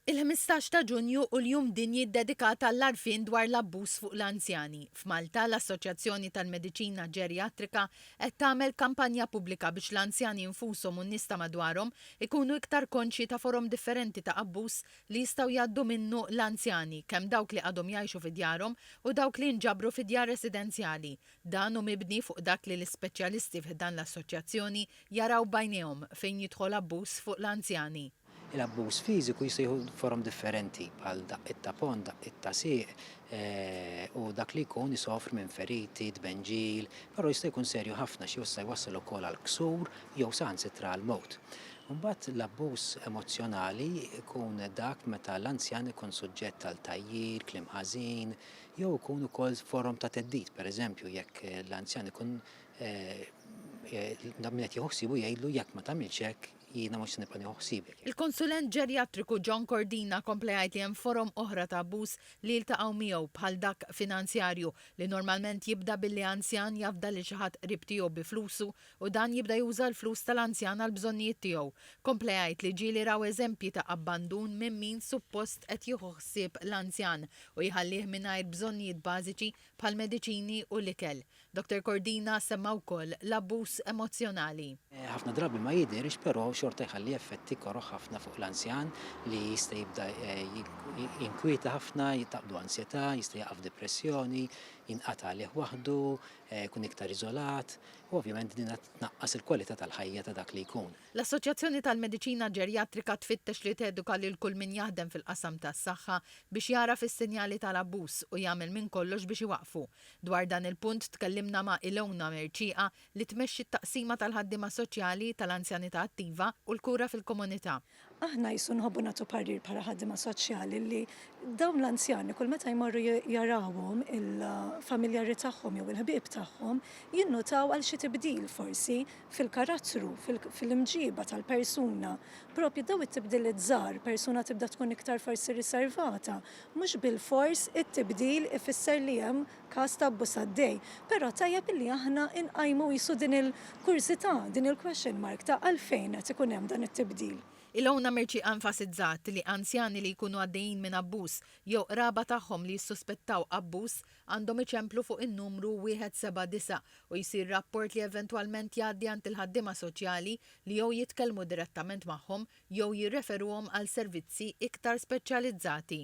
Il-ħmistax ta' Ġunju hu l-Jum Dinji ddedikat għall-għarfien dwar l-abbuż fuq l-anzjani. F'Malta, l-Assoċjazzjoni tal-Mediċina Ġerjatrika qed tagħmel kampanja pubblika biex l-anzjani nfushom u n-nies ta' madwarhom ikunu iktar konxji ta' forom differenti ta' abbuż li jistgħu jgħaddu minnu l-anzjani, kemm dawk li għadhom jgħixu fi djarhom u dawk li jinġabru fi djar residenzjali. Dan hu mibni fuq dak li l-ispeċjalisti fi ħdan l-Assoċjazzjoni jaraw b'għajnejhom fejn jidħol abbuż fuq l-anzjani. Il-abbuż fiżiku jista' jieħu forom differenti bħal daqqiet ta' ponn, daqqiet ta' sieq u dak li jkun isofri minn feriti, tbenġil, però jista' jkun serju ħafna xi jista' jwassal ukoll għal ksur jew saħansitra għall-mewt. Imbagħad l-abbuż emozzjonali jkun dak meta l-anzjan ikun suġġett għal tgħajjir, kliem ħażin jew ikun ukoll forom ta' theddid, pereżempju jekk l-anzjan ikun min qed jieħu ħsiebu jgħidlu jekk ma tagħmilx hekk, Jiena mhux se nibqa' nieħu ħsiebek. Il-konsulent ġerjatriku John Cordina kompla jgħid li hemm forom oħra ta' abbuż li jiltaqgħu miegħu bħal dak finanzjarju, li normalment jibda billi anzjan jafda lil xi ħadd qrib tiegħu bi flusu u dan jibda juża l-flus tal-anzjan għall-bżonnijiet tiegħu. Kompla jgħid li ġieli raw eżempji ta' abbandun minn min suppost qed jieħu ħsieb l-anzjan u jħallih mingħajr bżonnijiet bażiċi bħall-mediċini u l-ikel. Dottor Cordina semma wkoll l-abbuż emozzjonali. Ħafna drabi ma jidhirx però xorta jħalli effetti koroh ħafna fuq l-anzjan li jista' jibda jinkwieta ħafna, taqbdu ansjetà, jista' jaqa' f'dipressjoni, jinqata' għalih waħdu, jkun iktar iżolat u ovvjament din qed tnaqqas il-kwalità tal-ħajja ta' dak li jkun. L-Assoċjazzjoni tal-Mediċina Ġerjatrika tfittex li teduka lil kull min jaħdem fil-qasam tas-saħħa biex jagħraf is-sinjali tal-abbuż u jagħmel minn kollox biex iwaqqfu. Dwar dan il-punt tkellimna ma' Ilona Mercieqa li tmexxi t-Taqsima tal-Ħaddiema Soċjali, tal-Anzjanità Attiva u l-Kura fil-Komunità. Aħna qisu nħobbu nagħtu parir bħala ħaddiema soċjali li dawn l-anzjani kull meta jmorru jarawhom il-familjari tagħhom jew il-ħbieb tagħhom jinnutaw għal xi tibdil forsi fil-karattru, fil-imġiba tal-persuna, proprju dawn it-tibdiliet żgħar, persuna tibda tkun iktar forsi riservata, mhux bilfors it-tibdil ifisser li hemm każ ta' abbuż għaddej. Però tajjeb illi aħna nqajmu qisu din il-kurżità, din il-question mark ta' għalfejn qed ikun hemm dan it-tibdil. Ilona Mercieqa enfasizzat li anzjani li jkunu għaddejjin minn abbuż jew qraba tagħhom li jissuspettaw abbuż għandhom iċemplu fuq in-numru 179 u jsir rapport li eventwalment jgħaddi għand il-ħaddiema soċjali li jew jitkellmu direttament magħhom jew jirreferuhom għal servizzi iktar speċjalizzati.